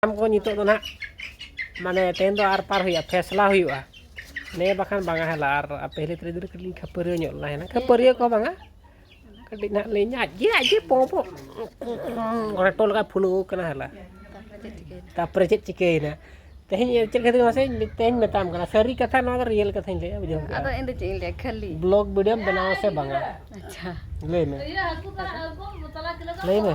ᱥᱟᱱᱟᱢ ᱠᱚ ᱱᱤᱛᱚᱜ ᱫᱚ ᱱᱟᱦᱟᱜ ᱢᱟᱱᱮ ᱛᱮᱦᱮᱧ ᱫᱚ ᱟᱨ ᱯᱟᱨ ᱦᱩᱭᱩᱜᱼᱟ ᱯᱷᱮᱥᱞᱟ ᱦᱩᱭᱩᱜᱼᱟ ᱱᱮ ᱵᱟᱠᱷᱟᱱ ᱵᱟᱝᱟ ᱦᱮᱞᱟ ᱟᱨ ᱯᱟᱹᱦᱤᱞᱤ ᱛᱟᱹᱨᱤ ᱫᱚ ᱠᱟᱹᱴᱤᱡ ᱠᱷᱟᱹᱯᱟᱹᱨᱤᱭᱟᱹ ᱧᱚᱜ ᱞᱮᱱᱟ ᱦᱮᱱᱟ ᱠᱷᱟᱹᱯᱟᱹᱨᱤᱭᱟᱹ ᱠᱚ ᱵᱟᱝᱟ ᱠᱟᱹᱴᱤᱡ ᱱᱟᱦᱟᱜ ᱞᱤᱧ ᱟᱡ ᱜᱮ ᱟᱡ ᱜᱮ ᱯᱚ ᱯᱚ ᱨᱮᱴᱚ ᱞᱮᱠᱟ ᱯᱷᱩᱞᱟᱹᱣ ᱠᱟᱱᱟ ᱦᱮᱞᱟ ᱛᱟᱨᱯᱚᱨᱮ ᱪᱮᱫ ᱪᱤᱠᱟᱹᱭᱮᱱᱟ ᱛᱮᱦᱮᱧ ᱪᱮᱫ ᱠᱷᱟᱹᱛᱤᱨ ᱢᱟᱥᱮ ᱛᱮᱦᱮᱧ ᱢᱮᱛᱟᱢ ᱠᱟᱱᱟ ᱥᱟᱹᱨᱤ ᱠᱟᱛᱷᱟ ᱱᱚᱣᱟ ᱫᱚ ᱨᱤᱭᱮᱞ ᱠᱟᱛᱷᱟᱧ ᱞᱟᱹᱭᱟ ᱵᱩᱡᱷᱟᱹᱣ ᱟᱫᱚ ᱤᱧ ᱫᱚ ᱪᱮᱫ ᱤᱧ ᱞᱟᱹᱭᱟ ᱠᱷᱟᱹᱞᱤ ᱵᱞᱚᱜ ᱵᱷᱤᱰᱤᱭᱳᱢ ᱵᱮᱱᱟᱣᱟ ᱥᱮ ᱵᱟᱝᱟ ᱟᱪᱪᱷᱟ ᱞᱟᱹᱭ ᱢᱮ ᱞᱟᱹᱭ ᱢᱮ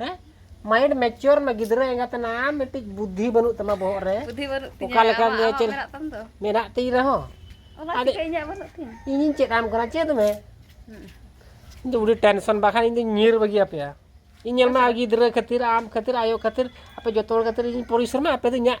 ᱦᱮᱸ ᱢᱟᱭᱤᱱᱰ ᱢᱮᱪᱩᱨ ᱢᱮ ᱜᱤᱫᱽᱨᱟᱹ ᱮᱸᱜᱟᱛ ᱮᱱᱟ ᱢᱤᱫᱴᱤᱡ ᱵᱩᱫᱽᱫᱷᱤ ᱵᱟᱹᱱᱩᱜ ᱛᱟᱢᱟ ᱵᱚᱦᱚᱜ ᱨᱮ ᱵᱩᱫᱷᱤ ᱵᱟᱹᱱᱩᱜ ᱛᱤᱧᱟ ᱚᱠᱟ ᱞᱮᱠᱟ ᱟᱢᱟᱜ ᱜᱮ ᱟᱢᱟᱜ ᱪᱮᱫ ᱢᱮᱱᱟᱜ ᱛᱟᱢ ᱫᱚ ᱢᱮᱱᱟᱜ ᱛᱤᱧ ᱨᱮᱦᱚᱸ ᱚᱱᱟ ᱟᱫᱚ ᱪᱤᱠᱟᱹ ᱤᱧᱟᱹᱜ ᱵᱟᱹᱱᱩᱜ ᱛᱤᱧ ᱤᱧᱤᱧ ᱪᱮᱫ ᱟᱢ ᱠᱟᱱᱟ ᱪᱮᱫ ᱢᱮ ᱤᱧ ᱫᱚ ᱩᱰᱤ ᱴᱮᱱᱥᱚᱱ ᱵᱟᱠᱷᱟᱱ ᱤᱧ ᱫᱚ ᱧᱤᱨ ᱵᱟᱹᱜᱤ ᱟᱯᱮᱭᱟ ᱤᱧ ᱧᱮᱞ ᱢᱟ ᱜᱤᱫᱽᱨᱟᱹ ᱠᱷᱟᱹᱛᱤᱨ ᱟᱢ ᱠᱷᱟᱹᱛᱤᱨ ᱟᱭᱳ ᱠᱷᱟᱹᱛᱤᱨ ᱟᱯᱮ ᱡᱚᱛᱚ ᱦᱚᱲ ᱠᱷᱟᱹᱛᱤᱨ ᱤᱧ ᱯᱚᱨᱤᱥᱨᱚᱢᱟ ᱟᱯᱮ ᱫᱚ ᱤᱧᱟᱹᱜ